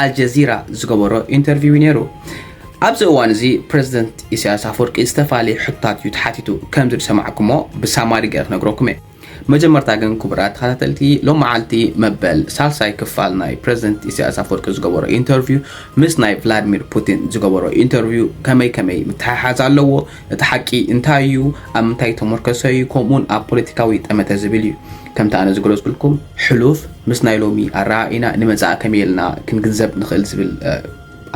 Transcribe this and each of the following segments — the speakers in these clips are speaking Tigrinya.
ኣልጀዚራ ዝገበሮ ኢንተርቪው'ዩ ነይሩ። ኣብዚ እዋን'ዚ ፕረዚደንት ኢሳይያስ ኣፍወርቂ ዝተፈላለየ ሕቶታት'ዩ ተሓቲቱ። ከምዚ ዝሰማዕኩሞ ብሳማሪ ገይረ ክነግረኩም'የ። መጀመርታ ግን ክቡራት ተኸታተልቲ ሎምዓልቲ መበል ሳልሳይ ክፋል ናይ ፕረዚደንት ኢሳይያስ ኣፍወርቂ ዝገበሮ ኢንተርቪው ምስ ናይ ቭላድሚር ፑቲን ዝገበሮ ኢንተርቪው ከመይ ከመይ ምትሕሓዝ ኣለዎ? እቲ ሓቂ እንታይ'ዩ? ኣብ ምንታይ ዝተሞርከሰ'ዩ? ከምኡ'ውን ኣብ ፖለቲካዊ ጠመተ ዝብል'ዩ። ከምቲ ኣነ ዝገለጽኩልኩም ሕሉፍ ምስ ናይ ሎሚ ኣረኣኢና ንመጻኢ ከመይ ኢልና ክንግንዘብ ንኽእል ዝብል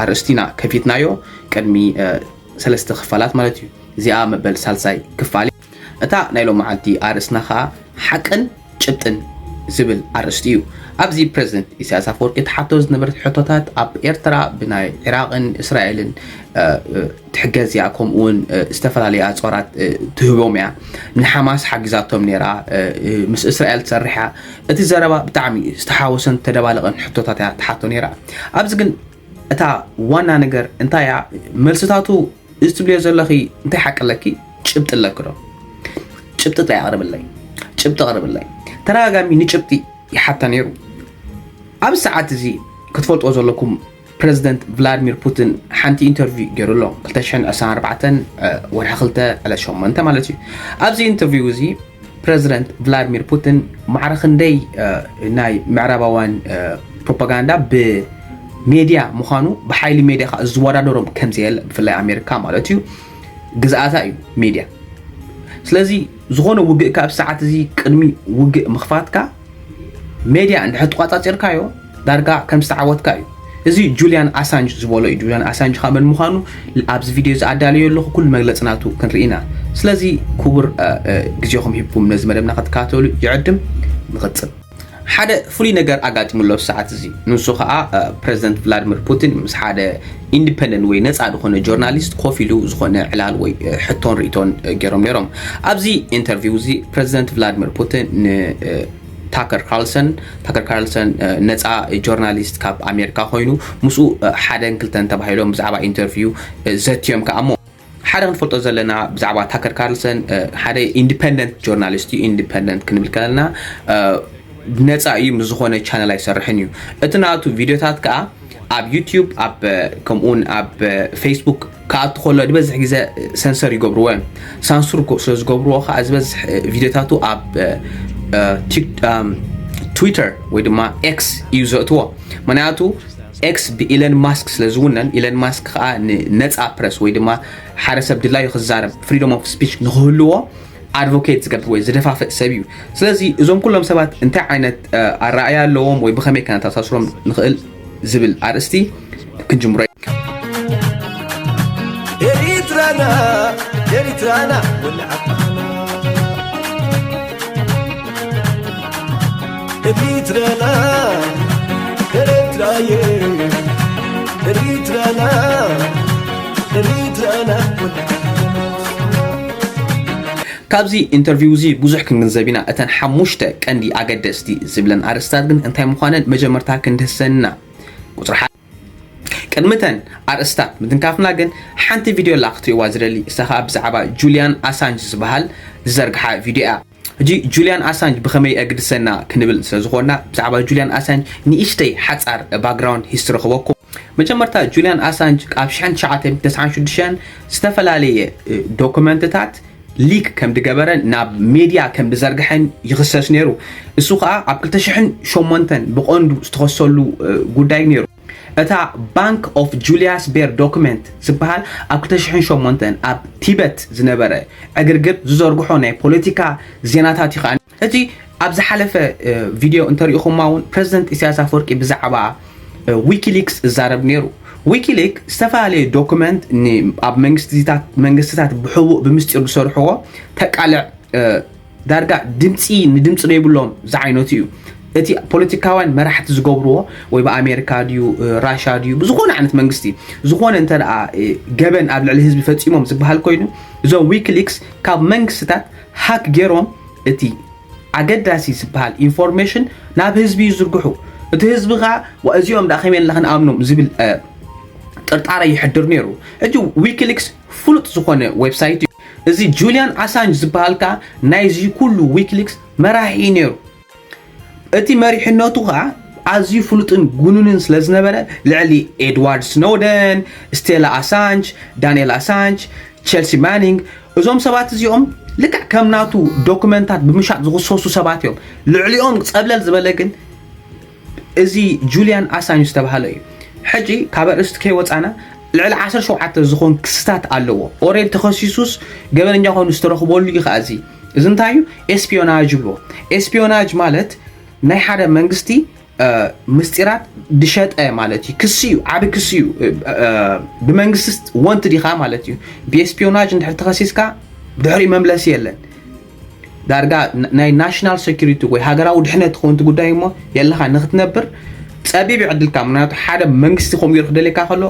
ኣርእስቲ ኢና ከፊትናዮ ቅድሚ ሰለስተ ክፋላት ማለት እዩ። እዚኣ መበል ሳልሳይ ክፋል እያ። እታ ናይ ሎምዓንቲ ኣርእስትና ከኣ ሓቅን ጭብጥን ዝብል ኣርእስቲ እዩ። ኣብዚ ፕረዚደንት ኢሳያስ ኣፈወርቂ ትሓቶ ዝነበረት ሕቶታት ኣብ ኤርትራ ብናይ ዒራቕን እስራኤልን ትሕገዝ እያ ከምኡ ውን ዝተፈላለዩ ኣፅዋራት ትህቦም እያ ንሓማስ ሓጊዛቶም ነይራ ምስ እስራኤል ትሰርሕ እያ እቲ ዘረባ ብጣዕሚ ዝተሓወሰን ተደባለቐን ሕቶታት እያ ትሓቶ ነይራ ኣብዚ ግን እታ ዋና ነገር እንታይ እያ መልስታቱ እዚ ትብልዮ ዘለኺ እንታይ ሓቂ ኣለኪ ጭብጢ ኣለኪ ዶ ጭብጢ ጥራይ ኣቕርብለይ ጭብጢ ኣቕርብለይ ተደጋጋሚ ንጭብጢ ይሓታ ነይሩ ኣብ ሰዓት እዚ ክትፈልጦ ዘለኩም ፕረዚደንት ቭላድሚር ፑቲን ሓንቲ ኢንተርቪው ገይሩ ኣሎ 224 ወርሒ ክልተ ዕለት ሸሞንተ ማለት እዩ ኣብዚ ኢንተርቪው እዚ ፕረዚደንት ቭላድሚር ፑቲን ማዕረ ክንደይ ናይ ምዕራባውያን ፕሮፓጋንዳ ብሜድያ ምዃኑ ብሓይሊ ሜድያ ከዓ ዝወዳደሮም ከምዘየለ ብፍላይ ኣሜሪካ ማለት እዩ ግዝኣታ እዩ ሜድያ ስለዚ ዝኾነ ውግእ ካብ ሰዓት እዚ ቅድሚ ውግእ ምኽፋትካ ሜድያ እንድሕር ተቋፃፂርካዮ ዳርጋ ከም ዝተዓወትካ እዩ እዚ ጁልያን ኣሳንጅ ዝበሎ እዩ ጁልያን ኣሳንጅ ካብ መን ምዃኑ ኣብዚ ቪድዮ እዚ ኣዳልዮ ኣለኹ ኩሉ መግለፂ ናቱ ክንርኢ ኢና ስለዚ ክቡር ግዜኹም ሂብኩም ነዚ መደብና ክትከታተሉ ይዕድም ንቕፅል ሓደ ፍሉይ ነገር ኣጋጢሙ ኣሎ ሰዓት እዚ ንሱ ከዓ ፕረዚደንት ቭላድሚር ፑቲን ምስ ሓደ ኢንዲፐንደንት ወይ ነጻ ዝኾነ ጆርናሊስት ኮፍ ኢሉ ዝኾነ ዕላል ወይ ሕቶን ርእቶን ገይሮም ነይሮም። ኣብዚ ኢንተርቪው እዚ ፕረዚደንት ቭላድሚር ፑቲን ን ታከር ካርልሰን ታከር ካርልሰን ነፃ ጆርናሊስት ካብ ኣሜሪካ ኮይኑ ምስኡ ሓደን ክልተን ተባሂሎም ብዛዕባ ኢንተርቪው ዘትዮም ከኣሞ ሓደ ክንፈልጦ ዘለና ብዛዕባ ታከር ካርልሰን ሓደ ኢንዲፐንደንት ጆርናሊስት እዩ ኢንዲፐንደንት ክንብል ከለና ነፃ እዩ ምስ ዝኾነ ቻነል ኣይሰርሕን እዩ እቲ ናቱ ቪድዮታት ከዓ ኣብ ዩትዩብ ኣብ ከምኡውን ኣብ ፌስቡክ ክኣቱ ከሎ ዝበዝሕ ግዜ ሰንሰር ይገብርዎ እዮም ሳንሱር ስለ ዝገብርዎ ከዓ ዝበዝሕ ቪድዮታቱ ኣብ ትዊተር ወይ ድማ ኤክስ እዩ ዘእትዎ ምክንያቱ ኤክስ ብኢለን ማስክ ስለ ዝውነን ኢለን ማስክ ከኣ ንነጻ ፕረስ ወይ ድማ ሓደ ሰብ ድላዩ ክዛረብ ፍሪዶም ኦፍ ስፒች ንክህልዎ ኣድቮኬት ዝገብር ወይ ዝደፋፍእ ሰብ እዩ ስለዚ እዞም ኩሎም ሰባት እንታይ ዓይነት ኣረኣያ ኣለዎም ወይ ብኸመይ ከነተኣሳስሮም ንኽእል ዝብል ኣርእስቲ ክንጅምሮ ኤሪትራና ኤሪትራና ወላዓባ ኤሪትራና ኤሪትራየ ኤሪትራና ኤሪትራና ካብዚ ኢንተርቪው እዚ ብዙሕ ክንግንዘብ ኢና እተን ሓሙሽተ ቀንዲ ኣገደስቲ ዝብለን ኣርእስታት ግን እንታይ ምዃነን መጀመርታ ክንድህሰንና ቁፅሪ ቅድሚ እተን ኣርእስታት ምትንካፍና ግን ሓንቲ ቪድዮ ኣላ ክትርእዋ ዝደሊ እሳ ከዓ ብዛዕባ ጁልያን ኣሳንጅ ዝበሃል ዝዘርግሓ ቪድዮ እያ ሕጂ ጁልያን ኣሳንጅ ብኸመይ ኣግድሰና ክንብል ስለ ዝኾንና ብዛዕባ ጁልያን ኣሳንጅ ንእሽተይ ሓጻር ባክግራውንድ ሂስትሪ ክበኩም መጀመርታ ጁልያን ኣሳንጅ ካብ 1996 ዝተፈላለየ ዶክመንትታት ሊክ ከም ድገበረ ናብ ሜድያ ከም ድዘርግሐን ይኽሰስ ነይሩ እሱ ከዓ ኣብ 2008 ብቐንዱ ዝተኸሰሉ ጉዳይ ነይሩ እታ ባንክ ኦፍ ጁልያስ ቤር ዶክመንት ዝበሃል ኣብ ክልተ ሽሕን ሸሞንተን ኣብ ቲበት ዝነበረ ዕግርግር ዝዘርግሖ ናይ ፖለቲካ ዜናታት እዩ ከኣ። እቲ ኣብ ዝሓለፈ ቪድዮ እንተሪእኹማ እውን ፕረዚደንት ኢሳያስ ኣፈወርቂ ብዛዕባ ዊኪሊክስ እዛረብ ነይሩ። ዊኪሊክ ዝተፈላለዩ ዶክመንት ን ኣብ መንግስትታት መንግስትታት ብሕቡእ ብምስጢር ዝሰርሕዎ ተቃልዕ ዳርጋ ድምፂ ንድምፂ ዶ ይብሎም ዝዓይነቱ እዩ እቲ ፖለቲካውያን መራሕቲ ዝገብርዎ ወይ ብኣሜሪካ ድዩ ራሻ ድዩ ብዝኾነ ዓይነት መንግስቲ ዝኾነ እንተ ገበን ኣብ ልዕሊ ህዝቢ ፈፂሞም ዝበሃል ኮይኑ እዞም ዊክሊክስ ካብ መንግስትታት ሃክ ገይሮም እቲ ኣገዳሲ ዝበሃል ኢንፎርሜሽን ናብ ህዝቢ ይዝርግሑ እቲ ህዝቢ ከዓ እዚኦም ዳ ከመይ ኢልና ክንኣምኖም ዝብል ጥርጣረ ይሕድር ነይሩ ሕጂ ዊክሊክስ ፍሉጥ ዝኾነ ዌብሳይት እዩ እዚ ጁልያን ኣሳንጅ ዝብሃል ከኣ ናይዚ ኩሉ ዊኪሊክስ መራሒ እዩ ነይሩ። እቲ መሪሕነቱ ከኣ ኣዝዩ ፍሉጥን ጉኑንን ስለ ዝነበረ ልዕሊ ኤድዋርድ ስኖውደን፣ ስቴላ ኣሳንጅ፣ ዳንኤል ኣሳንጅ፣ ቼልሲ ማኒንግ እዞም ሰባት እዚኦም ልክዕ ከም ናቱ ዶክመንታት ብምሻጥ ዝኽሰሱ ሰባት እዮም። ልዕሊኦም ጸብለል ዝበለ ግን እዚ ጁልያን ኣሳንጅ ዝተባሃለ እዩ ሕጂ ካብ ኣርእስቲ ከይወጻና ልዕሊ ዓሰርተ ሸውዓተ ዝኾን ክስታት ኣለዎ ኦሬድ ተኸሲሱስ ገበነኛ ኮይኑ ዝተረኽበሉ እዩ ከኣ እዚ እዚ እንታይ እዩ ኤስፒዮናጅ ይብልዎ ኤስፒዮናጅ ማለት ናይ ሓደ መንግስቲ ምስጢራት ድሸጠ ማለት እዩ ክሲ እዩ ዓብ ክሲ እዩ ብመንግስቲ ወንት ዲኻ ማለት እዩ ብኤስፒዮናጅ እንድሕር ተኸሲስካ ድሕሪኡ መምለሲ የለን ዳርጋ ናይ ናሽናል ሴኩሪቲ ወይ ሃገራዊ ድሕነት ክኸውን እቲ ጉዳይ እሞ የለኻ ንክትነብር ፀቢብ ይዕድልካ ምክንያቱ ሓደ መንግስቲ ከምኡ ገይሩ ክደልየካ ከሎ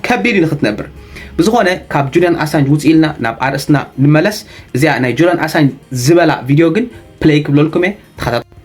ከቢድ እዩ ንክትነብር ብዝኾነ ካብ ጁልያን ኣሳንጅ ውፅ ኢልና ናብ ኣርእስትና ንመለስ እዚኣ ናይ ጁልያን ኣሳንጅ ዝበላ ቪድዮ ግን ፕለይ ክብለልኩም እየ ተኸታተሉ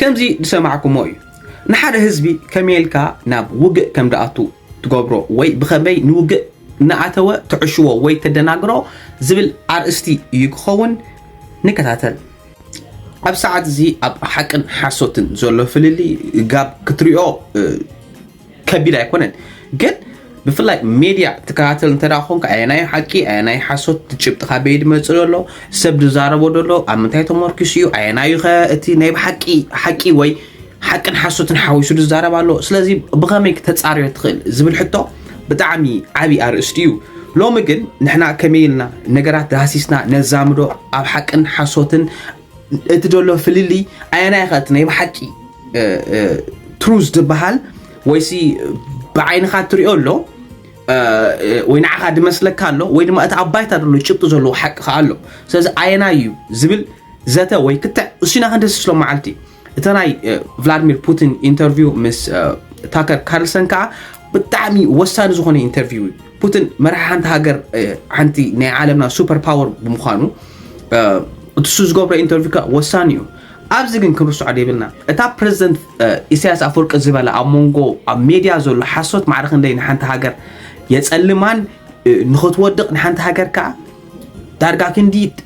ከምዚ ዝሰማዕኩሞ እዩ ንሓደ ህዝቢ ከመይ ኢልካ ናብ ውግእ ከም ዝኣቱ ትገብሮ ወይ ብኸመይ ንውግእ እናኣተወ ተዕሽዎ ወይ ተደናግሮ ዝብል ኣርእስቲ እዩ ክኸውን። ንከታተል። ኣብ ሰዓት እዚ ኣብ ሓቅን ሓሶትን ዘሎ ፍልልይ ጋብ ክትሪኦ ከቢድ ኣይኮነን ግን ብፍላይ ሜድያ ትከታተል እንተ ኮንካ ኣየናይ ሓቂ ኣየናይ ሓሶት ጭብጢ ካበይ ድመፅእ ዘሎ ሰብ ዝዛረቦ ዘሎ ኣብ ምንታይ ተመርኪሱ እዩ ኣየናዩ ከ እቲ ናይ ሓቂ ሓቂ ወይ ሓቅን ሓሶትን ሓዊሱ ዝዛረብ ኣሎ ስለዚ ብኸመይ ተፃርዮ ትኽእል ዝብል ሕቶ ብጣዕሚ ዓብዪ ኣርእስቲ እዩ ሎሚ ግን ንሕና ከመይ ኢልና ነገራት ዳህሲስና ነዛምዶ ኣብ ሓቅን ሓሶትን እቲ ዘሎ ፍልልይ ኣየናይ ኸ እቲ ናይ ብሓቂ ትሩዝ ዝበሃል ወይሲ ብዓይንኻ እትሪኦ ኣሎ ወይ ንዓኻ ድመስለካ ኣሎ ወይ ድማ እቲ ኣብ ባይታ ዘሎ ጭብጢ ዘለዎ ሓቂ ከዓ ኣሎ ስለዚ ኣየናይ እዩ ዝብል ዘተ ወይ ክትዕ እሱና ክንደስስሎ መዓልቲ እዩ እቲ ናይ ቭላድሚር ፑቲን ኢንተርቪው ምስ ታከር ካርልሰን ከዓ ብጣዕሚ ወሳኒ ዝኾነ ኢንተርቪው እዩ ፑቲን መራሒ ሓንቲ ሃገር ሓንቲ ናይ ዓለምና ሱፐር ፓወር ብምዃኑ እሱ ዝገብሮ ኢንተርቪው ከዓ ወሳኒ እዩ ኣብዚ ግን ክንርስዖ ደይብልና እታ ፕረዚደንት ኢሳያስ ኣፈወርቂ ዝበላ ኣብ መንጎ ኣብ ሜድያ ዘሎ ሓሶት ማዕረ ክንደይ ንሓንቲ ሃገር የፀልማን ንኽትወድቕ ንሓንቲ ሃገር ከዓ ዳርጋ ክንዲ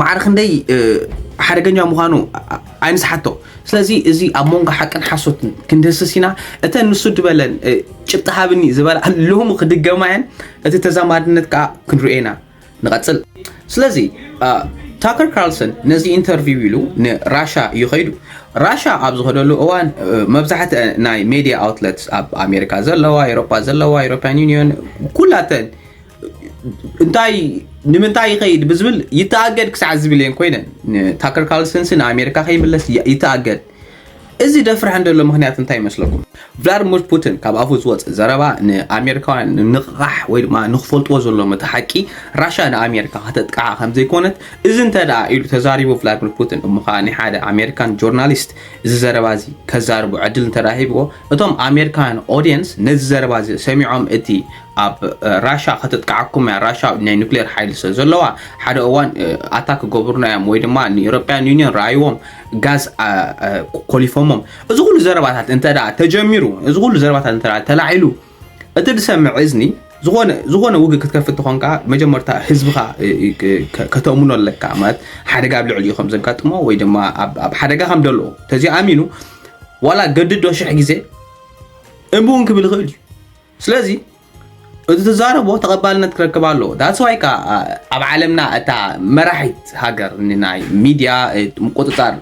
ማዕረ ክንደይ ሓደገኛ ምዃኑ ኣይንስሓቶ ስለዚ እዚ ኣብ መንጎ ሓቅን ሓሶትን ክንድህስስ ኢና እተን ንሱ ድበለን ጭብጢ ሃብኒ ዝበላ ሎሚ ክድገማ እየን እቲ ተዛማድነት ከዓ ክንሪኦ ኢና ንቐፅል ስለዚ ታከር ካርልሰን ነዚ ኢንተርቪው ኢሉ ንራሻ እዩ ከይዱ ራሻ ኣብ ዝኸደሉ እዋን መብዛሕት ናይ ሜድያ ኣውትለት ኣብ ኣሜሪካ ዘለዋ ኤሮፓ ዘለዋ ኤሮፓን ዩኒዮን ኩላተን እንታይ ንምንታይ ይኸይድ ብዝብል ይተኣገድ ክሳዕ ዝብል እየን ኮይነን ታከር ካርልሰንሲ ንኣሜሪካ ከይምለስ ይተኣገድ እዚ ደፍርሐ እንደሎ ምክንያት እንታይ ይመስለኩም ቭላድሚር ፑቲን ካብ ኣፉ ዝወፅእ ዘረባ ንኣሜሪካውያን ንቕቓሕ ወይ ድማ ንክፈልጥዎ ዘለዎም እቲ ሓቂ ራሻ ንኣሜሪካ ከተጥቅዓ ከም ዘይኮነት እዚ እንተ ደኣ ኢሉ ተዛሪቡ ቭላድሚር ፑቲን እሞ ከዓ ናይ ሓደ ኣሜሪካን ጆርናሊስት እዚ ዘረባ እዚ ከዛርቡ ዕድል እንተ ሂብዎ እቶም ኣሜሪካውያን ኦዲየንስ ነዚ ዘረባ እዚ ሰሚዖም እቲ ኣብ ራሻ ከተጥቅዓኩም እያ ራሻ ናይ ኑክሌር ሓይሊ ስለ ዘለዋ ሓደ እዋን ኣታ ክገብሩና እዮም ወይ ድማ ንኤሮፓያን ዩኒየን ረኣይዎም ጋዝ ኮሊፎሞም እዚ ኩሉ ዘረባታት እንተ ተጀሚሩ እዚ ኩሉ ዘረባታት እንተ ተላዒሉ እቲ ዝሰምዕ እዝኒ ዝኾነ ውግእ ክትከፍት ትኾንካ መጀመርታ ህዝብኻ ከተእምኖ ኣለካ ማለት ሓደጋ ኣብ ልዕሊ ከም ዘጋጥሞ ወይ ድማ ኣብ ሓደጋ ከም ደሎ ተዚኣሚኑ ዋላ ገድዶ ሽሕ ግዜ እምብውን ክብል ይኽእል እዩ ስለዚ እዚ ትዛረቦ ተቐባልነት ክረክብ ኣለዎ ዳትስ ዋይ ከዓ ኣብ ዓለምና እታ መራሒት ሃገር ናይ ሚድያ ምቁፅፃር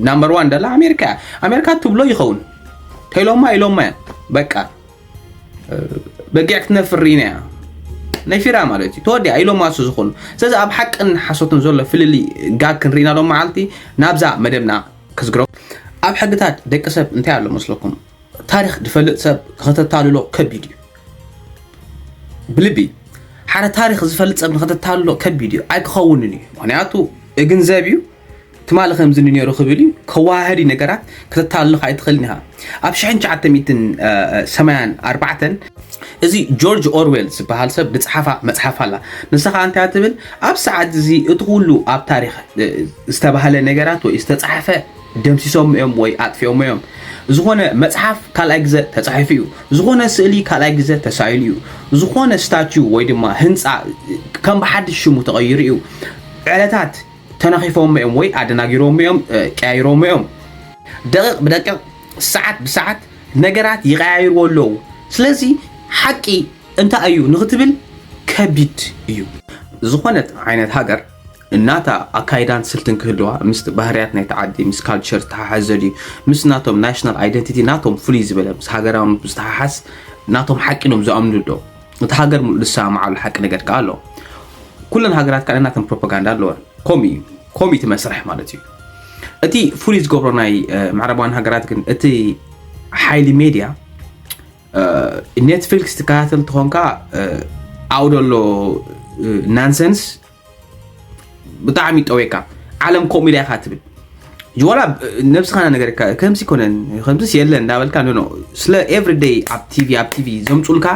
ናምበር ዋን ደላ ኣሜሪካ እያ ኣሜሪካ ትብሎ ይኸውን ተኢሎማ ኢሎማ እያ በቃ በጊዕ ክትነፍር ኢና እያ ነፊራ ማለት እዩ ተወዲኣ ኢሎማ ሱ ዝኾኑ ስለዚ ኣብ ሓቅን ሓሶትን ዘሎ ፍልሊ ጋግ ክንርኢና ሎ መዓልቲ ናብዛ መደብና ክዝግሮ ኣብ ሕግታት ደቂ ሰብ እንታይ ኣሎ መስለኩም ታሪኽ ዝፈልጥ ሰብ ከተታልሎ ከቢድ እዩ ብልቢ ሓደ ታሪኽ ዝፈልጥ ሰብ ንኸተታልሎ ከቢድ እዩ ኣይክኸውንን እዩ ምክንያቱ እግንዘብ እዩ ትማሊ ከምዚ ነይሩ ክብል እዩ ከዋህዲ ነገራት ከተታልሎ ኣይትኽእልን ኢኻ ኣብ 1984 እዚ ጆርጅ ኦርዌል ዝበሃል ሰብ ዝፀሓፋ መፅሓፍ ኣላ ንሳ ከዓ እንታይ ትብል ኣብ ሰዓት እዚ እቲ ኩሉ ኣብ ታሪክ ዝተባህለ ነገራት ወይ ዝተፃሓፈ ደምሲሶሞ እዮም ወይ ኣጥፊኦሞ እዮም። ዝኾነ መጽሓፍ ካልኣይ ግዘ ተጻሒፉ እዩ። ዝኾነ ስእሊ ካልኣይ ግዘ ተሳኢሉ እዩ። ዝኾነ ስታችው ወይ ድማ ህንጻ ከም ብሓድሽ ሽሙ ተቐይሩ እዩ። ዕለታት ተናኺፎሞ እዮም ወይ ኣደናጊሮሞ እዮም፣ ቀያይሮሞ እዮም። ደቂቕ ብደቂቕ፣ ሰዓት ብሰዓት ነገራት ይቐያይርዎ ኣለዉ። ስለዚ ሓቂ እንታይ እዩ ንኽትብል ከቢድ እዩ። ዝኾነት ዓይነት ሃገር ናታ ኣካይዳን ስልትን ክህልዋ ምስቲ ባህርያት ናይቲ ዓዲ ምስ ካልቸር ዝተሓሓዝ ዘድዩ ምስ ናቶም ናሽናል ኣይደንቲቲ ናቶም ፍልይ ዝበለ ምስ ሃገራውነት ብዝተሓሓዝ ናቶም ሓቂ ኢሎም ዝኣምንሉ ኣሎ እቲ ሃገር ሙሉእ ዝሰማምዓሉ ሓቂ ነገር ከኣ ኣሎ ኩለን ሃገራት ከኣ ናተን ፕሮፓጋንዳ ኣለወን ከምኡ እዩ ከምኡ እቲ መስርሕ ማለት እዩ እቲ ፍሉይ ዝገብሮ ናይ ምዕራባውያን ሃገራት ግን እቲ ሓይሊ ሜድያ ኔትፍሊክስ ትከታተል እንትኾንካ ኣብኡ ዘሎ ናንሰንስ ብጣዕሚ ጠዌካ ዓለም ከምኡ ኢላ ኢካ ትብል ዋላ ነብስካ ነገር ከምዚ ኮነን ከምዚስ የለን እንዳበልካ ኖ ስለ ኤቭሪ ደይ ኣብ ቲቪ ኣብ ቲቪ ዘምፁልካ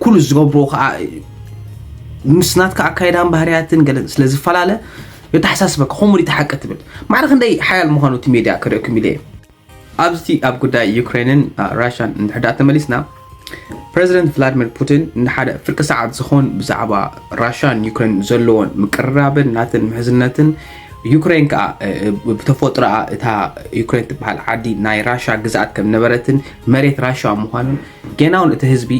ኩሉ ዝገብሮ ከዓ ምስ ናትካ ኣካይዳን ባህርያትን ገለ ስለ ዝፈላለ የተሓሳስበካ ከምኡ ሓቂ ትብል ማዕረ ክንደይ ሓያል ምኳኑ እቲ ሜድያ ክርእኩም ኢለ እየ ኣብዝቲ ኣብ ጉዳይ ዩክሬንን ራሻን እንድሕር ድኣ ተመሊስና ፕረዚደንት ቭላድሚር ፑቲን ንሓደ ፍርቂ ሰዓት ዝኾን ብዛዕባ ራሻን ዩክሬን ዘለዎን ምቅርራብን ናትን ምሕዝነትን ዩክሬን ከዓ ብተፈጥሮኣ እታ ዩክሬን ትበሃል ዓዲ ናይ ራሻ ግዝኣት ከም ነበረትን መሬት ራሻ ምዃኑን ጌና እውን እቲ ህዝቢ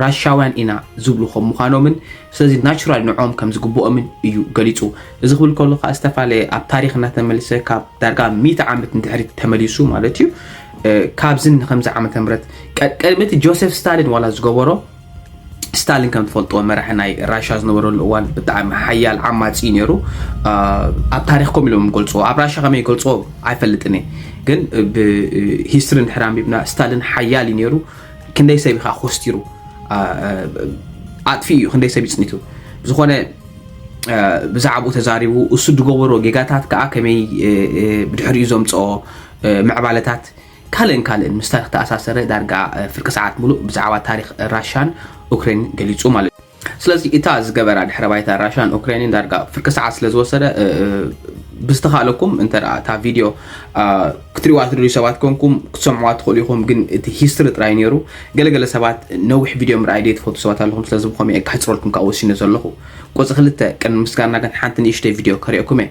ራሻውያን ኢና ዝብሉ ከም ምዃኖምን ስለዚ ናቹራሊ ንዕኦም ከም ዝግብኦምን እዩ ገሊጹ። እዚ ክብል ከሎ ከኣ ዝተፈላለየ ኣብ ታሪኽ እናተመልሰ ካብ ዳርጋ ሚእቲ ዓመት ንድሕሪት ተመሊሱ ማለት እዩ ካብዚ ንከምዚ ዓመተ ምህረት ቅድሚ እቲ ጆሴፍ ስታሊን ዋላ ዝገበሮ ስታሊን ከም ትፈልጥዎ መራሒ ናይ ራሻ ዝነበረሉ እዋን ብጣዕሚ ሓያል ዓማፂ እዩ ነይሩ ኣብ ታሪክ ከም ኢሎም ገልፅዎ ኣብ ራሻ ከመይ ገልፅዎ ኣይፈልጥን እየ ግን ብሂስትሪ እንድሕር ኣንቢብና ስታሊን ሓያል እዩ ነይሩ ክንደይ ሰብ ኢኻ ኮስቲሩ ኣጥፊኡ እዩ ክንደይ ሰብ ይፅኒቱ ብዝኾነ ብዛዕባኡ ተዛሪቡ እሱ ዝገበሮ ጌጋታት ከዓ ከመይ ብድሕሪኡ ዘምፅኦ ምዕባለታት ካልእን ካልእን ምስ ታሪክ ተኣሳሰረ ዳርጋ ፍርቂ ሰዓት ሙሉእ ብዛዕባ ታሪክ ራሻን ኡክሬን ገሊፁ ማለት እዩ ስለዚ እታ ዝገበራ ድሕረ ባይታ ራሻን ኡክሬንን ዳርጋ ፍርቂ ሰዓት ስለ ዝወሰደ ብዝተኻለኩም እንተ እታ ቪድዮ ክትሪዋ ትደልዩ ሰባት ኮንኩም ክትሰምዕዋ ትኽእሉ ኢኹም ግን እቲ ሂስትሪ ጥራይ ነይሩ ገለገለ ሰባት ነዊሕ ቪድዮ ምርኣይ ደይ ትፈቱ ሰባት ኣለኹም ስለዚ ብኸመይ ከሕፅረልኩም ከዓ ወሲነ ዘለኹ ቁፅሪ ክልተ ቅድሚ ምስጋና ግን ሓንቲ ንእሽተይ ቪድዮ ከሪኦኩም እየ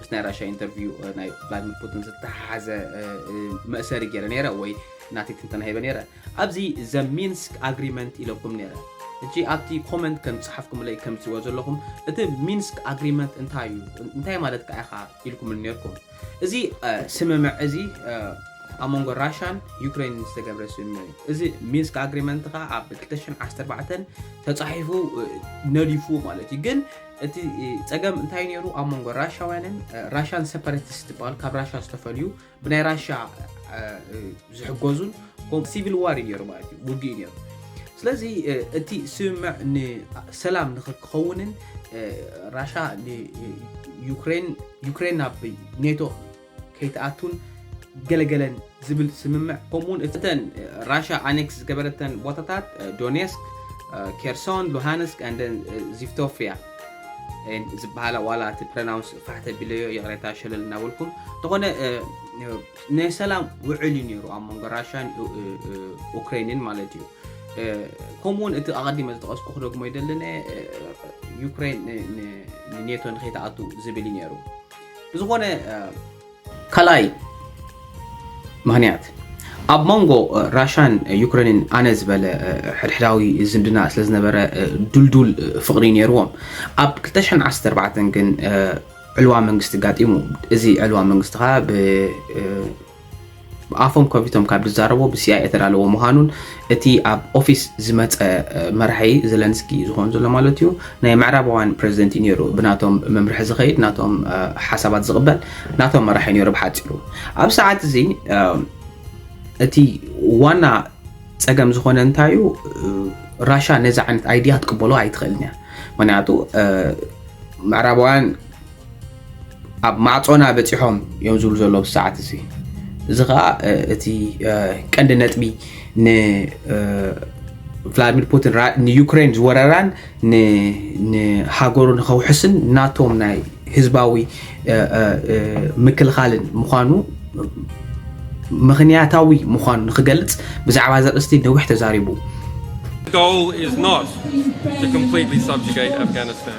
ምስ ናይ ራሻ ኢንተርቪው ናይ ቭላድሚር ፑቲን ዝተሓሓዘ መእሰሪ ገይረ ነይረ ወይ ናተይ ትንተና ሂበ ነይረ ኣብዚ ዘ ሚንስክ ኣግሪመንት ኢለኩም ነይረ እጂ ኣብቲ ኮመንት ከም ዝፀሓፍኩምለይ ከም ትሪእዎ ዘለኹም እቲ ሚንስክ ኣግሪመንት እንታይ እዩ እንታይ ማለት ከዓ ኢኻ ኢልኩም ነርኩም እዚ ስምምዕ እዚ ኣብ መንጎ ራሻን ዩክሬን ዝተገብረ ስምምዕ እዩ እዚ ሚንስክ ኣግሪመንት ከዓ ኣብ 214 ተፃሒፉ ነዲፉ ማለት እዩ ግን እቲ ጸገም እንታይ ነይሩ ኣብ መንጎ ራሻውያንን ራሻን ሰፐረቲስት ዝበሃል ካብ ራሻ ዝተፈልዩ ብናይ ራሻ ዝሕገዙን ሲቪል ዋር እዩ ነይሩ ማለት እዩ ውግእ ነይሩ ስለዚ እቲ ስምምዕ ንሰላም ንክከውንን ራሻ ዩክሬን ናብ ኔቶ ከይትኣቱን ገለገለን ዝብል ስምምዕ ከምኡ እውን እተን ራሻ ኣኔክስ ዝገበረተን ቦታታት ዶኔስክ ኬርሶን ሉሃንስክ ኣንደን ዚፍቶፍያ ዝበሃላ ዋላ እቲ ፕረናውንስ ፋሕ ተቢለዮ ይቕሬታ ሸለል እናበልኩም እንተኾነ ናይ ሰላም ውዕል እዩ ነይሩ ኣብ መንጎ ራሻን ኡክሬንን ማለት እዩ ከምኡውን እቲ ኣቐዲመ ዝጠቐስኩ ክደግሞ ይደልነ ዩክሬን ንኔቶ ንከይተኣቱ ዝብል እዩ ነይሩ ብዝኾነ ካልኣይ ምክንያት ኣብ መንጎ ራሻን ዩክሬንን ኣነ ዝበለ ሕድሕዳዊ ዝምድና ስለ ዝነበረ ዱልዱል ፍቕሪ ነይርዎም ኣብ 214 ግን ዕልዋ መንግስቲ ጋጢሙ እዚ ዕልዋ መንግስቲ ከዓ ኣፎም ከፊቶም ካብ ዝዛረቡ ብሲኣይ እተዳለዎ ምዃኑን እቲ ኣብ ኦፊስ ዝመፀ መራሒ ዘለንስኪ ዝኾን ዘሎ ማለት እዩ ናይ ምዕራባውያን ፕሬዚደንት እዩ ነይሩ ብናቶም መምርሒ ዝኸይድ ናቶም ሓሳባት ዝቕበል ናቶም መራሒ ነይሩ ብሓፂሩ ኣብ ሰዓት እዚ እቲ ዋና ፀገም ዝኾነ እንታይ እዩ ራሻ ነዚ ዓይነት ኣይዲያ ክትቅበሎ ኣይትኽእልን እያ ምክንያቱ ምዕራባውያን ኣብ ማዕጾና በጺሖም እዮም ዝብሉ ዘለዉ ኣብዚ ሰዓት እዚ እዚ ከዓ እቲ ቀንዲ ነጥቢ ንቭላድሚር ፑቲን ንዩክሬን ዝወረራን ንሃገሩ ንከውሕስን ናቶም ናይ ህዝባዊ ምክልኻልን ምዃኑ ምክንያታዊ ምዃኑ ንክገልጽ ብዛዕባ እዚ ኣርእስቲ ነዊሕ ተዛሪቡ። The goal is not to completely subjugate Afghanistan.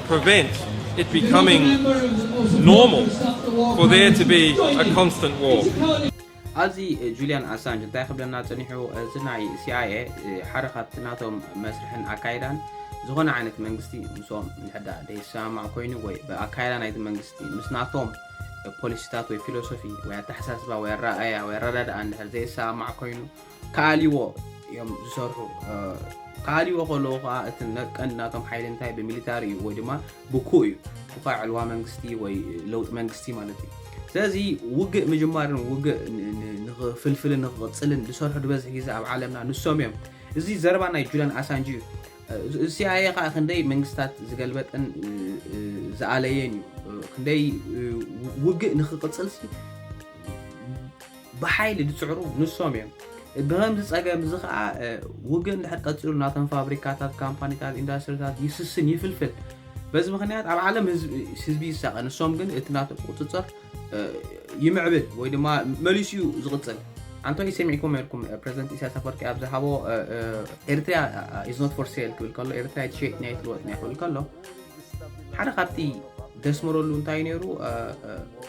prevent it becoming normal for there to be a constant war. ኣብዚ ጁልያን ኣሳንጅ እንታይ ክብለና ፀኒሑ እዚ ናይ ሲኣይኤ ሓደ ካብቲ ናቶም መስርሕን ኣካይዳን ዝኾነ ዓይነት መንግስቲ ምስኦም ንሕዳ ደይሰማማዕ ኮይኑ ወይ ብኣካይዳ ናይቲ መንግስቲ ምስ ናቶም ፖሊሲታት ወይ ፊሎሶፊ ወይ ኣተሓሳስባ ወይ ኣረኣያ ወይ ኣረዳድኣ እንድሕር ዘይሰማማዕ ኮይኑ ክኣልይዎ እዮም ዝሰርሑ። ክኣልይዎ ከለዉ ከዓ እቲ ነቀን ናቶም ሓይሊ እንታይ ብሚሊታሪ እዩ ወይ ድማ ብኩእ እዩ። ብኳ ዕልዋ መንግስቲ ወይ ለውጢ መንግስቲ ማለት እዩ። ስለዚ ውግእ ምጅማርን ውግእ ንክፍልፍልን ንክቕፅልን ዝሰርሑ ዝበዝሕ ግዜ ኣብ ዓለምና ንሶም እዮም። እዚ ዘረባ ናይ ጁልያን ኣሳንጅ እዩ። ሲኣይኤ ከዓ ክንደይ መንግስታት ዝገልበጠን ዝኣለየን እዩ። ክንደይ ውግእ ንክቕፅልሲ ብሓይሊ ዝፅዕሩ ንሶም እዮም። ብኸምዚ ፀገም እዚ ከዓ ውግእ እንድሕር ቀፂሉ ናቶም ፋብሪካታት፣ ካምፓኒታት፣ ኢንዳስትሪታት ይስስን፣ ይፍልፍል። በዚ ምኽንያት ኣብ ዓለም ህዝቢ ይሳቐ፣ ንሶም ግን እቲ ናቶም ቁፅፅር ይምዕብል ወይ ድማ መሊሱ እዩ ዝቕፅል። ኣንቶይ ሰሚዕኩም ኔርኩም ፕሬዚደንት ኢሳያስ ኣፈወርቂ ኣብ ዝሃቦ ኤርትሪያ ኢዝ ኖት ፎር ሴል ክብል ከሎ ኤርትሪያ ትሸጥ ኒያ ትልወጥ ኒያ ክብል ከሎ ሓደ ካብቲ ደስመረሉ እንታይ ነይሩ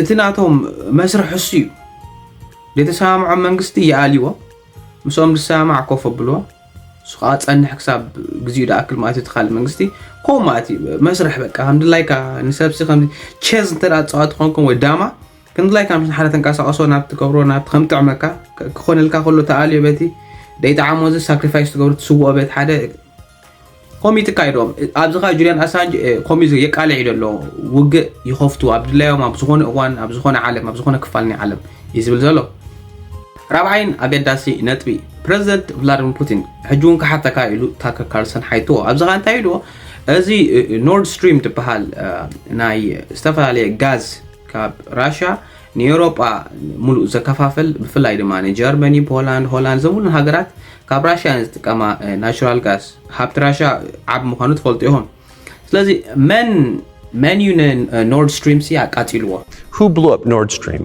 እቲ ናቶም መስርሕ እሱ እዩ። ዘይተሰማምዖም መንግስቲ ይኣልይዎ፣ ምስኦም ዝሰማማዕ ኮፍ ኣብልዎ፣ እሱ ከዓ ፀንሕ ክሳብ ግዚኡ ድኣክል ማለት እዩ። ትካል መንግስቲ ከምኡ ማለት እዩ። መስርሕ በቃ ከምድላይካ ንሰብሲ ከም ቼዝ እንተ ፀዋቲ ኮንኩም ወይ ዳማ ከምድላይካ ምስ ሓደ ተንቀሳቀሶ ናብ ትገብሮ ናብ ከምጥዕመካ ክኾነልካ ከሎ ተኣልዮ በቲ ደይጣዓሞ እዚ ሳክሪፋይስ ትገብሩ ትስውኦ በት ሓደ ከምኡ ይትካየዶም ኣብዚ ካ ጁልያን ኣሳንጅ ከምኡ የቃልዕ እዩ ዘሎ ውግእ ይኸፍቱ ኣብ ድላዮም ኣብ ዝኾነ እዋን ኣብ ዝኾነ ዓለም ኣብ ዝኾነ ክፋል ናይ ዓለም እዩ ዝብል ዘሎ ራብዓይን ኣገዳሲ ነጥቢ ፕረዚደንት ቭላድሚር ፑቲን ሕጂ እውን ክሓተካ ኢሉ ታከር ካርልሰን ሓይትዎ ኣብዚ ካ እንታይ ኢልዎ እዚ ኖርድ ስትሪም ትበሃል ናይ ዝተፈላለየ ጋዝ ካብ ራሽያ ንኤውሮጳ ምሉእ ዘከፋፍል ብፍላይ ድማ ንጀርመኒ፣ ፖላንድ፣ ሆላንድ እዘን ኩለን ሃገራት ካብ ራሽያ እየን ዝጥቀማ ናቹራል ጋስ። ሃብቲ ራሽያ ዓቢ ምዃኑ ትፈልጡ ኢኹም። ስለዚ መን መን እዩ ንኖርድ ስትሪም ሲ ኣቃጺልዎ? Who blew up Nord Stream?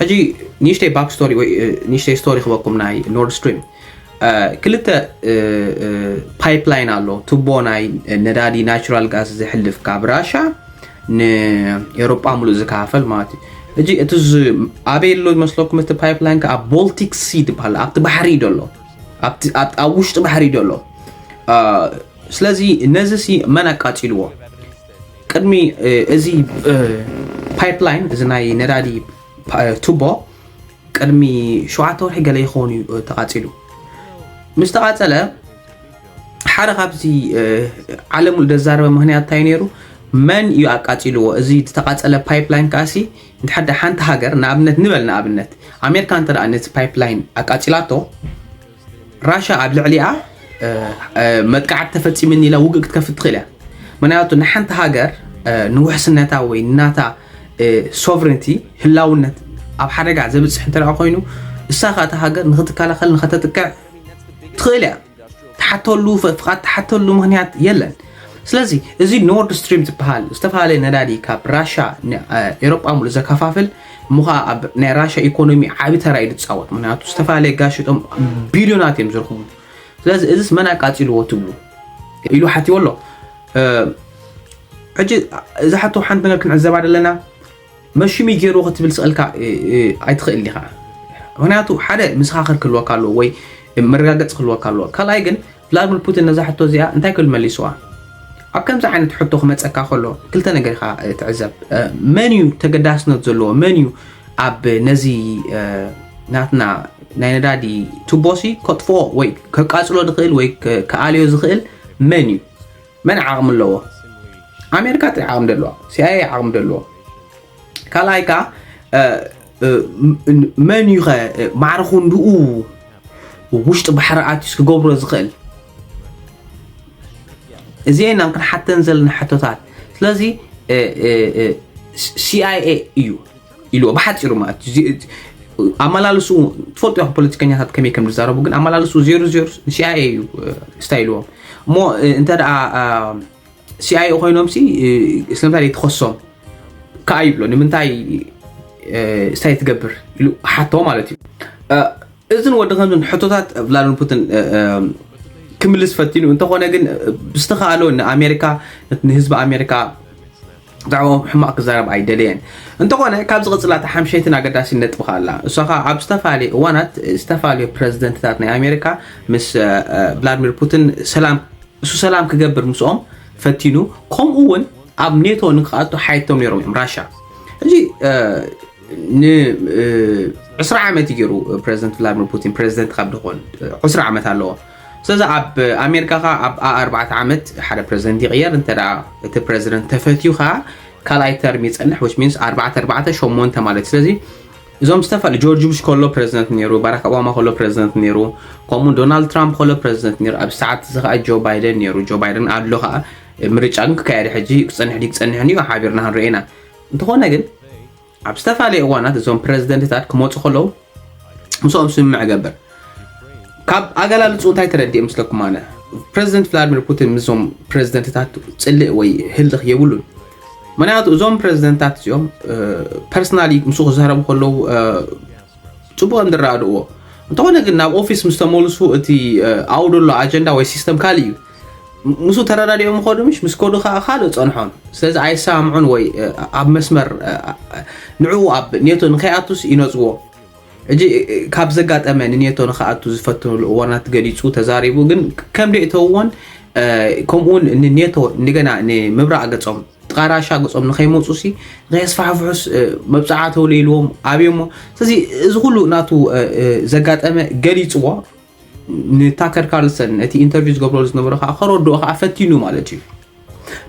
ሕጂ ንእሽተይ ባክ ስቶሪ ወይ ንእሽተይ ስቶሪ ክበኩም ናይ ኖርድ ስትሪም ክልተ ፓይፕላይን ኣሎ ቱቦ ናይ ነዳዲ ናራል ጋዝ ዝሕልፍ ካብ ራሻ ንኤሮጳ ሙሉእ ዝከፋፈል ማለት እዩ እጂ እቲ ኣበይ ኣሎ ዝመስለኩም እቲ ፓይፕላይን ከዓ ቦልቲክ ሲ ትበሃል ኣብቲ ባሕሪ ዶ ኣሎ ኣብ ውሽጢ ባሕሪ ዶ ኣሎ ስለዚ ነዚ ሲ መን ኣቃፂልዎ ቅድሚ እዚ ፓይፕላይን እዚ ናይ ነዳዲ ቱቦ ቅድሚ ሸውዓተ ወርሒ ገለ ይኸውን እዩ ተቓፂሉ ምስ ተቓፀለ ሓደ ካብዚ ዓለም ዘዛረበ ምክንያት እንታይ ነይሩ መን እዩ ኣቃፂልዎ እዚ ዝተቓፀለ ፓይፕላይን ከዓሲ እንተሓደ ሓንቲ ሃገር ንኣብነት ንበል ንኣብነት ኣሜሪካ እንተ ነቲ ፓይፕላይን ኣቃፂላቶ ራሻ ኣብ ልዕሊኣ መጥቃዕቲ ተፈፂሙኒ ኢላ ውግእ ክትከፍት ትኽእል እያ ምክንያቱ ንሓንቲ ሃገር ንውሕስነታ ወይ ናታ ሶቨሬንቲ ህላውነት ኣብ ሓደጋ ዘብፅሕ እንተ ኮይኑ እሳ ከዓ እቲ ሃገር ንክትከላኸል ንከተጥቀዕ ትኽእል እያ ትሓተሉ ፍቃድ ትሓተሉ ምክንያት የለን ስለዚ እዚ ኖርድ ስትሪም ዝበሃል ዝተፈላለየ ነዳዲ ካብ ራሻ ንኤሮጳ ሙሉ ዘከፋፍል እሞ ኸኣ ኣብ ናይ ራሻ ኢኮኖሚ ዓቢ ተራ እዩ ዝጻወት ምክንያቱ ዝተፈላለየ ጋዝ ሽጦም ቢልዮናት እዮም ዝረኽቡ ስለዚ እዚስ መን ኣቃጺልዎ ትብሉ ኢሉ ሓትዎ ኣሎ ሕጂ እዛ ሓቶ ሓንቲ ነገር ክንዕዘባ ደለና መሽሚ ገይሩ ክትብል ስቕልካ ኣይትኽእል ኢኻ ምክንያቱ ሓደ ምስኻኽር ክህልወካ ኣለዎ ወይ መረጋገፂ ክህልወካ ኣለዎ ካልኣይ ግን ቭላድሚር ፑቲን ነዛ ሕቶ እዚኣ እንታይ ክብል መሊስዋ? ኣብ ከምዚ ዓይነት ሕቶ ክመጸካ ከሎ ክልተ ነገር ኢኻ ትዕዘብ። መን እዩ ተገዳስነት ዘለዎ? መን እዩ ኣብ ነዚ ናትና ናይ ነዳዲ ቱቦሲ ከጥፍኦ ወይ ከቃጽሎ ዝኽእል ወይ ክኣልዮ ዝኽእል መን እዩ? መን ዓቕሚ ኣለዎ? ኣሜሪካ ጥሪ ዓቕሚ ደለዋ፣ ሲኣይኤ ዓቕሚ ደለዎ። ካልኣይ ከዓ መን እዩ ከ ማዕረ ክንድኡ ውሽጢ ባሕሪ ኣትዩስ ክገብሮ ዝኽእል እዚአን ኢና ክንሓተን ዘለና ሕቶታት ስለዚ ሲኣይኤ እዩ ኢሉ ብሓፂሩ ማለት ኣመላልሱ ትፈልጡ ያ ፖለቲከኛታት ከመይ ከም ዝዛረቡ ግን ኣመላልሱ ዜሮ ዜሮ ሲኣይኤ እዩ ስታይልዎም እሞ እንተ ሲኣይኤ ኮይኖም ሲ ስለምንታይ ዘይትኸሶም ከዓ ይብሎ ንምንታይ ስታይ ትገብር ኢሉ ሓቶ ማለት እዩ እዝን ወዲ ከምዝን ሕቶታት ቭላድሚር ፑቲን ክምልስ ፈቲኑ እንተኾነ ግን ብዝተኸኣሎ ንኣሜሪካ ንህዝቢ ኣሜሪካ ብዛዕባኦም ሕማቕ ክዛረብ ኣይደለየን። እንተኾነ ካብ ዝቕጽላ እታ ሓምሸይትን ኣገዳሲን ነጥቢ ከኣ ኣላ። እሷ ከኣ ኣብ ዝተፈላለየ እዋናት ዝተፈላለዮ ፕረዚደንትታት ናይ ኣሜሪካ ምስ ቭላድሚር ፑቲን ሰላም እሱ ሰላም ክገብር ምስኦም ፈቲኑ ከምኡ እውን ኣብ ኔቶ ንክኣቱ ሓየቶም ነይሮም እዮም ራሻ እዚ ን20 ዓመት ይገይሩ ፕረዚደንት ቭላድሚር ፑቲን ፕረዚደንት ካብ ድኾን 20 ዓመት ኣለዎ ስለዚ ኣብ ኣሜሪካ ከኣ ኣብ ኣኣርባዕተ ዓመት ሓደ ፕረዚደንት ይቕየር እንተ እቲ ፕረዚደንት ተፈትዩ ከኣ ካልኣይ ተርም ይጸንሕ ዊች ሚንስ ኣርባዕተ ኣርባዕተ ሸሞንተ ማለት ስለዚ እዞም ዝተፈል ጆርጅ ቡሽ ከሎ ፕረዚደንት ነይሩ ባራክ ኦባማ ከሎ ፕረዚደንት ነይሩ ከምኡ ዶናልድ ትራምፕ ከሎ ፕረዚደንት ነይሩ ኣብ ሰዓት እዚ ከዓ ጆ ባይደን ነይሩ ጆ ባይደን ኣሎ ከዓ ምርጫ ግን ክካየደ ሕጂ ክፀንሕ ዲ ክፀንሕን እዩ ሓቢርና ክንርኤና እንተኾነ ግን ኣብ ዝተፈላለየ እዋናት እዞም ፕረዚደንትታት ክመፁ ከለዉ ምስኦም ስምምዕ እገብር ካብ ኣገላልፁ እንታይ ተረዲእ ምስለኩም ኣነ ፕረዚደንት ቭላድሚር ፑቲን ምስዞም ፕረዚደንትታት ፅልእ ወይ ህልኽ የብሉን ምክንያቱ እዞም ፕረዚደንትታት እዚኦም ፐርሰናሊ ምስ ክዛረቡ ከለዉ ፅቡቕ እንድራድእዎ እንተኾነ ግን ናብ ኦፊስ ምስ ተመልሱ እቲ ኣብኡ ዘሎ ኣጀንዳ ወይ ሲስተም ካልእ እዩ ምስ ተረዳዲኦም ኸዱ ምሽ ምስ ከዱ ከዓ ካልእ ፀንሖም ስለዚ ኣይሰማምዑን ወይ ኣብ መስመር ንዕኡ ኣብ ኔቶ ንከይኣቱስ ይነፅዎ እጂ ካብ ዘጋጠመ ንኔቶ ንክኣቱ ዝፈትንሉ እዋናት ገሊፁ ተዛሪቡ ግን ከም ደእተውዎን ከምኡውን ንኔቶ እንደገና ንምብራቅ ገፆም ጥቃ ራሻ ገጾም ንከይመፁ ሲ ንከየስፋሕፍሑስ መብፅዓ ተውለይልዎም ኣብዮሞ ስለዚ እዚ ኩሉ ናቱ ዘጋጠመ ገሊፅዎ ንታከር ካርልሰን ነቲ ኢንተርቪው ዝገብረሉ ዝነበረ ከዓ ከረድኦ ከዓ ፈቲኑ ማለት እዩ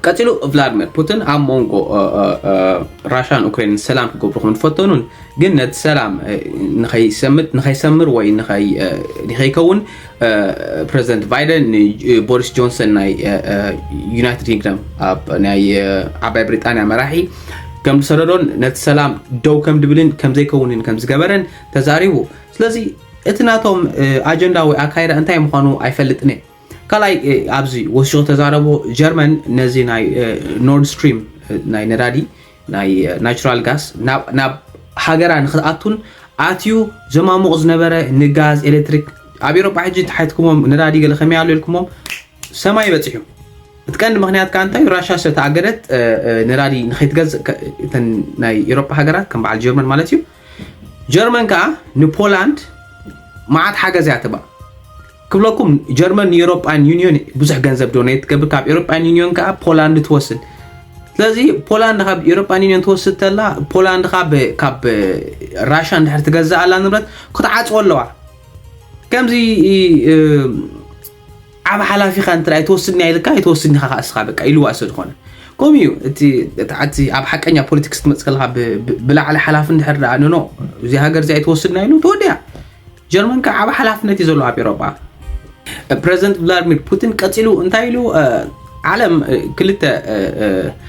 ቀፂሉ ቭላድሚር ፑቲን ኣብ መንጎ ራሽያን ኡክራይንን ሰላም ክገብሩ ከም ዝፈተኑን ግን ነቲ ሰላም ንኸይሰምር ወይ ንኸይከውን ፕረዚደንት ባይደን ንቦሪስ ጆንሰን ናይ ዩናይትድ ኪንግደም ናይ ዓባይ ብሪጣንያ መራሒ ከም ዝሰደዶን ነቲ ሰላም ደው ከም ድብልን ከም ዘይከውንን ከም ዝገበረን ተዛሪቡ ስለዚ እቲ ናቶም ኣጀንዳ ወይ ኣካይዳ እንታይ ምዃኑ ኣይፈልጥን እየ ካልኣይ ኣብዚ ወሲኹ ተዛረቦ ጀርመን ነዚ ናይ ኖርድ ስትሪም ናይ ነዳዲ ናይ ናቹራል ጋስ ናብ ሃገራ ንክትኣቱን ኣትዩ ዘማሙቕ ዝነበረ ንጋዝ ኤሌክትሪክ ኣብ ኤሮጳ ሕጂ ተሓትክሞም ነዳዲ ገለ ከመይ ኣሎ ኢልኩሞም ሰማይ በፂሑ እቲ ቀንዲ ምክንያት ከዓ እንታይ ራሻ ስለተኣገደት ነዳዲ ንከይትገዝእ ናይ ኤሮጳ ሃገራት ከም በዓል ጀርመን ማለት እዩ ጀርመን ከኣ ንፖላንድ መዓት ሓገዝ እያ ትባ ክብለኩም ጀርመን ንኤሮፓን ዩኒዮን ብዙሕ ገንዘብ ዶኔት ትገብር ካብ ኤሮፓን ዩኒዮን ከኣ ፖላንድ ትወስድ ስለዚ ፖላንድ ካብ ኤሮፓን ዩኒዮን ትወስድ ተላ ፖላንድ ካብ ራሻ እንድሕር ትገዛእ ኣላ ንብረት ክትዓፅዎ ኣለዋ ከምዚ ዓብ ሓላፊ ኢካ እንተ ኣይትወስድንያ ኢልካ ኣይትወስድን ኢካ ከኣ እስካ በቃ ኢልዋ ሰ ዝኮነ ከምኡ እዩ እቲ ኣብ ሓቀኛ ፖለቲክስ ክትመጽእ ከለካ ብላዕሊ ሓላፊ እንድሕር ደኣ ንኖ እዚ ሃገር እዚ ኣይትወስድና ኢሉ ተወዲያ ጀርመን ከዓ ዓብ ሓላፍነት እዩ ዘሎ ኣብ ኤሮጳ ፕረዚደንት ቭላድሚር ፑቲን ቀፂሉ እንታይ ኢሉ ዓለም ክልተ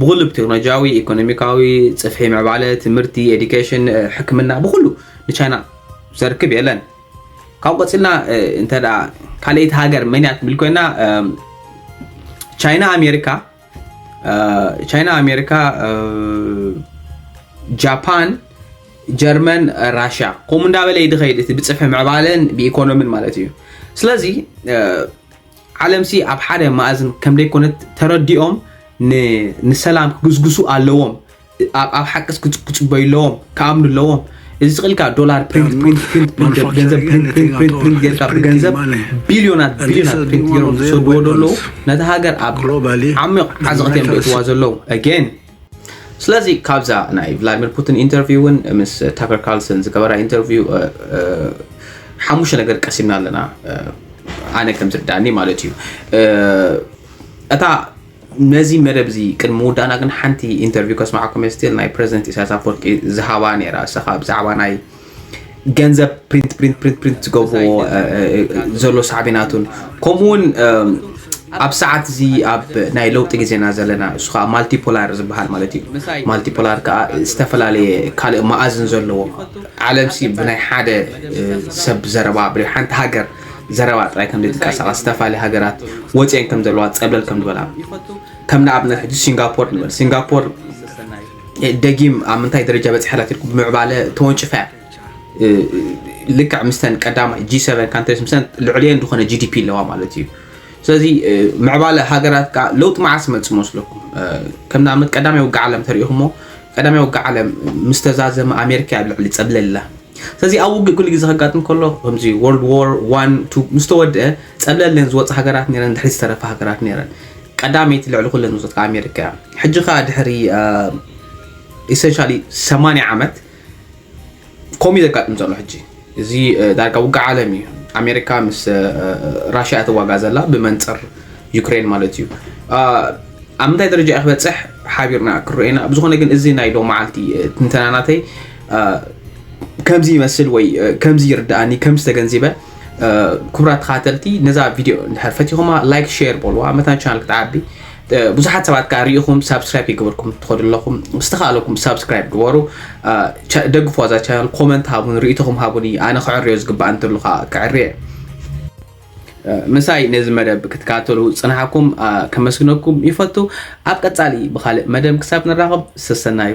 ብኹሉ ብቴክኖሎጂያዊ፣ ኢኮኖሚካዊ፣ ጽፍሒ ምዕባለ፣ ትምህርቲ፣ ኤዲኬሽን፣ ሕክምና ብኹሉ ንቻይና ዘርክብ የለን። ካብኡ ቀጺልና እንተ ካልኣይቲ ሃገር መን እያ ትብል ኮይና ቻይና ኣሜሪካ ቻይና ኣሜሪካ ጃፓን ጀርመን ራሽያ ከምኡ እንዳበለ ይድኸይድ እቲ ብፅፍሒ ምዕባለን ብኢኮኖሚን ማለት እዩ ስለዚ ዓለምሲ ኣብ ሓደ ማእዝን ከምደይኮነት ተረዲኦም ንሰላም ክግስግሱ ኣለዎም ኣብ ሓቅስ ክፅበዩ ኣለዎም ክኣምኑ ኣለዎም እዚ ስቕልካ ዶላር ፕሪንት ፕሪንት ፕሪንት ፕሪንት ገንዘብ ፕሪንት ፕሪንት ፕሪንት ፕሪንት ጌርካ ብገንዘብ ቢልዮናት ቢልዮናት ፕሪንት ጌሮም ዝሰድዎ ዘለዉ ነቲ ሃገር ኣብ ዓሚቕ ዓዘቕቲ እዮም ዘእትዋ ዘለዉ ኣጌን ስለዚ ካብዛ ናይ ቭላድሚር ፑቲን ኢንተርቪው ውን ምስ ታከር ካርልሰን ዝገበራ ኢንተርቪው ሓሙሽተ ነገር ቀሲምና ኣለና ኣነ ከም ዝርዳእኒ ማለት እዩ እታ ነዚ መደብ እዚ ቅድሚ ምውዳእና ግን ሓንቲ ኢንተርቪው ከስማዓኩም ስቲል ናይ ፕረዚደንት ኢሳያስ ኣፈወርቂ ዝሃባ ነይራ እሰኻ ብዛዕባ ናይ ገንዘብ ፕሪንት ፕሪንት ፕሪንት ፕሪንት ዝገብርዎ ዘሎ ሳዕቤናቱን ከምኡ እውን ኣብ ሰዓት እዚ ኣብ ናይ ለውጢ ግዜና ዘለና እሱ ከዓ ማልቲፖላር ዝበሃል ማለት እዩ ማልቲፖላር ከዓ ዝተፈላለየ ካልእ መኣዝን ዘለዎ ዓለም ሲ ብናይ ሓደ ሰብ ዘረባ ብ ሓንቲ ሃገር ዘረባ ጥራይ ከም ዘይትንቀሳቐስ ዝተፈላለየ ሃገራት ወፅአን ከም ዘለዋ ፀብለል ከም ዝበላ ከም ንኣብነት ሕጂ ሲንጋፖር ንበል ሲንጋፖር ደጊም ኣብ ምንታይ ደረጃ በፂሓ ኣላ ትልኩም ምዕባለ ተወንጭፋ እያ ልክዕ ምስተን ቀዳማይ ጂ ሰቨን ካንትሪስ ምስተን ልዕሊየን ዝኾነ ጂዲፒ ኣለዋ ማለት እዩ ስለዚ ምዕባለ ሃገራት ከዓ ለውጢ መዓስ መፅ መስለኩም ከም ንኣብነት ቀዳማይ ውግዕ ዓለም ተሪኢኹሞ ቀዳማይ ውግዕ ዓለም ምስ ተዛዘመ ኣሜሪካ ኣብ ልዕሊ ፀብለላ ስለዚ ኣብ ውግእ ኩሉ ግዜ ከጋጥም ከሎ ከምዚ ወርልድ ዋር ዋን ቱ ምስ ተወድአ ፀብለለን ዝወፅ ሃገራት ነረን ድሕሪ ዝተረፈ ሃገራት ነረን ቀዳመይቲ ልዕሊ ኩለን ውጽት ከኣ ኣሜሪካ እያ። ሕጂ ከኣ ድሕሪ ኢሰንሻሊ 80 ዓመት ከምኡ ዘጋጥም ዘሎ ሕጂ እዚ ዳርጋ ውግእ ዓለም እዩ። ኣሜሪካ ምስ ራሽያ እትዋጋ ዘላ ብመንፅር ዩክሬን ማለት እዩ። ኣብ ምንታይ ደረጃ እዩ ክበፅሕ ሓቢርና ክረኤና ብዝኾነ ግን እዚ ናይ ሎ መዓልቲ ትንተናናተይ ከምዚ ይመስል ወይ ከምዚ ይርድኣኒ ከምዚ ተገንዚበ ክቡራት ተኸታተልቲ ነዛ ቪድዮ እንድሕር ፈቲኹማ ላይክ ሼር በልዋ መታን ቻናል ክትዓቢ ብዙሓት ሰባት ከዓ ርኢኹም ሳብስክራይብ ይግበርኩም ትኸዱ ኣለኹም ዝተኻለኩም ሳብስክራይብ ግበሩ ደግፎ እዛ ቻናል ኮመንት ሃቡን ርእቶኹም ሃቡኒ ኣነ ክዕርዮ ዝግባእ እንተሉ ከዓ ክዕርየ ምሳይ ነዚ መደብ ክትከታተሉ ፅንሓኩም ከመስግነኩም ይፈቱ ኣብ ቀፃሊ ብካልእ መደብ ክሳብ ንራኸብ ሰሰናዩ